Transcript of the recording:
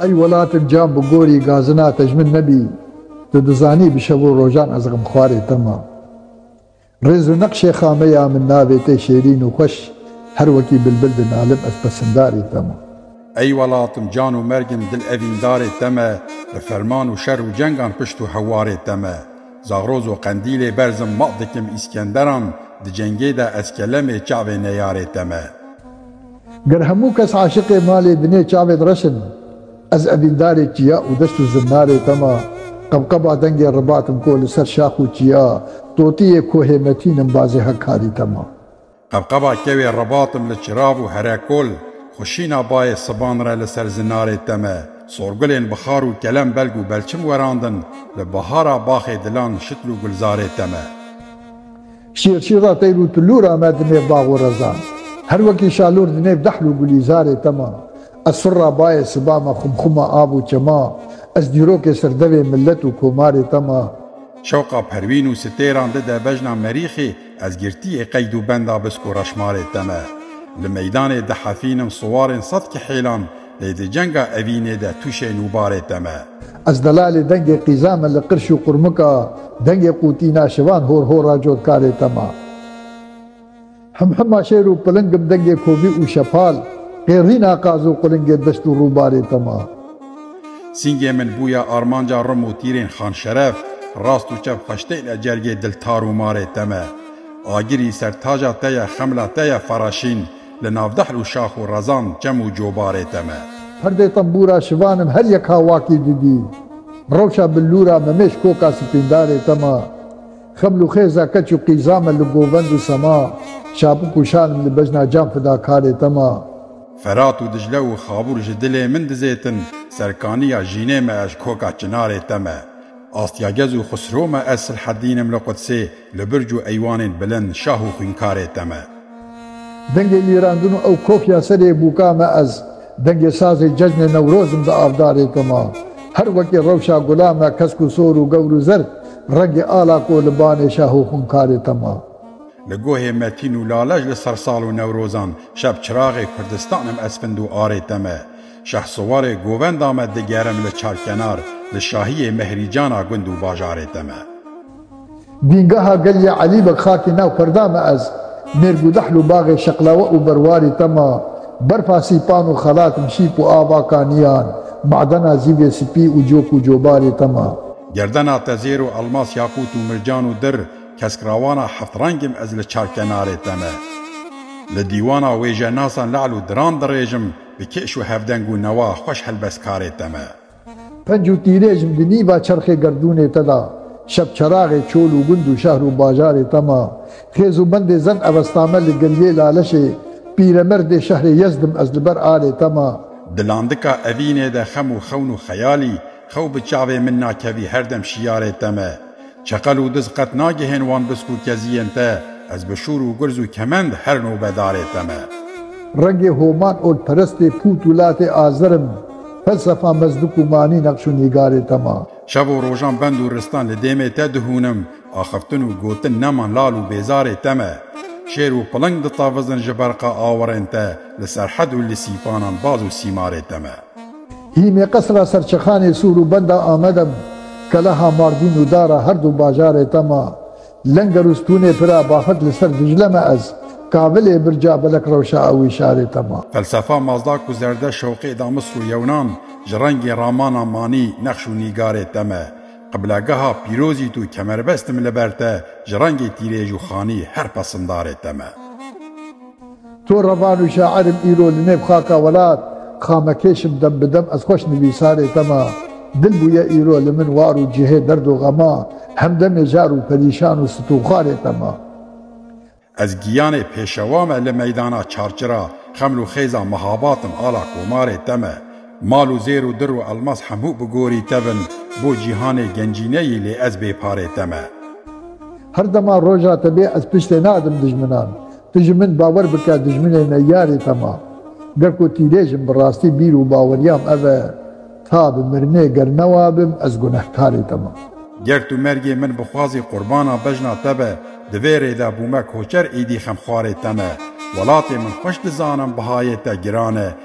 Ey welatim can bi gorî gazina te ji min nebî Tu dizanî bi şev û rojan ez xemxwarê te ma Rêz û neqşê xame ya min navê te şêrîn û xweş Her wekî bilbil dinalim ez pesindarê te ma. Ey welatim can û mergim dil evîndarê te me Bi ferman û şer û cengan pişt û hewarê te me Zagroz û Qendîlê berzim maq dikim Îskenderan Di cengê de ez kelemê çavê neyarê te me. Ger hemû kes aşiqê malê binê çavê di reş in Ez evîndarê çiya û deşt û zinarê te me Qebqeba dengê ribat in ko li ser şax û çiya Totiyê kohê metîn in bazê hekarî te me. Qebqeba kewê Ribatim li Çirav û Herekol, xwişîna bayê siban re li ser zinarê teme. Sorgulên bi xar û kelem belg û belçim werandin, bi bihara baxê dilan şitl û gulzarê teme. Şîrşî ra teyr û tulûr ame di nêv bax û rezan. Her wekî şalûr di nêv dehl û gulîzarê teme. Ez surra bayê siba me xumxuma av û çema. Ez dîrokê sirdevê milet û komarê teme. Şewqa perwîn û sitêran di de bejna merîxê. Ez girtiyê qeyd û benda biz ku reşmalê te me. Li meydanê dihefînim siwarên sed kihêlan lê di cenga evînê de tûşê nûbarê te me. Ez delalê dengê qîza me li qirş û qurmika dengê qûtîna şivan hor hora cotkarê te me. Himhima şêr û pilingim dengê kovî û şepal qêrîna qaz û qulingê deşt û rûbarê te me. Singê min bûye armanca rim û tîrên Xanşeref, rast û çep xweşteyne Cergê dil tar û marê te me. Agirî ser taja te ye xemla te ye Faraşîn li nav dehl û şax û rezan çem û cobarê te me. Perdê tembûra şivan im her yek ha wakî didî Rewşa billûra me mêş koka sipîndarê te me Xeml û xêza keç û qîza me li govend û sema Şapik û şal im li bejna can fidakarê te me. Ferat û Diclê û Xabûr ji dilê min dizêtin, serkaniya jînê me ez ji koka Çinarê te me. Astyagez û Xusro me ez Silhedîn im li Qudsê, li birc û eywanên bilind şah û xwînkarê te me. Dengê mîrandin û ew kok ya serê bûka me ez, dengê sazê cejnê Newroz im di avdarê te me. Her wekî rewşa gula me kesk û sor û gewr û zerd, rengê ala ku li banê şah û xwînkarê te me. Li gohê Metîn û Lale ji li ser sal û Newrozan şeb çiraxê Kurdistanem esfind û arê te me. Şehsuwarê govenda me digerim li çarkenar, li şahiyê mehrîcana gund û bajarê te me. Dîngaha gel yê Elî Beg xakî nav perda me ez, mêrgûdehl û baxê şeqlawe û berwarî te ma, berfa sîpan û xelat mişîp û ava kaniyan, madena zîvê sipî û cok û cobarê te ma. Gerdena te zêr û elmas yakût û mircan û dir, Kesk rawana heft rengim ez li çar kenarê te me. Li dîwana wêjenasan le'l û diran dirêjim bi kêş û hevdeng û newa xweş helbestkarê te me. Penc û tîrêjim di nîva çerxê gerdûnê te de şebçeraxê çol û gund û şehr û bajarê te me. Xêz û bendê zen evesta me li geriyê laleşê pîremerdê şehrê Yezdim ez li ber alê te me. Di landika evînê de xem û xewn û xeyalî xew bi çavê min nakevî her dem şiyarê te me. Çeqel û diz qet nagihên wan bisk û keziyên te, ez bi şûr û gurz û kemend her nobedarê te me. Rengê Homan Olperestê pût û latê Azer im, felsefa Mezlûk û manî neqş û nîgarê te ma. Şev û rojan bend û ristan li dêmê te dihûnim, axiftin û gotin neman lal û bêzarê te me. Şêr û piling ditavizin ji berqa awirên te, li serhed û li sîpanan baz û sîmarê te me. Hîmê qesra Serçexanê Sûr û benda Amede bi keleha Mardîn û dara her du bajarê te ma. Lenger û stûnê pira baxet li ser Dîcle me ez, kavilê birca belek rewşa ew ê şarê te ma. Felsefa Mazdak û Zerdeş Şewqê da Misr û Yewnan ji rengê ramana manî nexş û nîgarê te me. Qiblegeha pîrozît û kemerbestim li ber te ji rengê tîrêj û xanî her pesindarê te me. To revan û şair im îro li nêv xaka welat xamekêş im dem bi dem ez xweş nivîsarê te me dil bûye îro li min war û cihê derd û xema hemdemê jar û perîşan û stûxwarê te me. Ez giyanê pêşewa me li meydana çarçira xeml û xêza mihabat im ala komarê te me Mal û zêr û dir û elmas hemû bi gorî te bin bo cîhanê gencîneyî lê ez bê parê te me. Her dema roja te bê ez piştê nadim dijminan. Tu ji min bawer bike dijminê me yarê te ma. Ge ku tîlêj im bi rastî bîr û baweriyam ev e ta bi mirinê ger newa bim ez gunehkarê te ma. Ger tu mergê min bixwazî qurbana bejna te be di vê rê de bûme koçer îdî xemxwarê te me. Welatê min xweş dizanim bihayê te giran e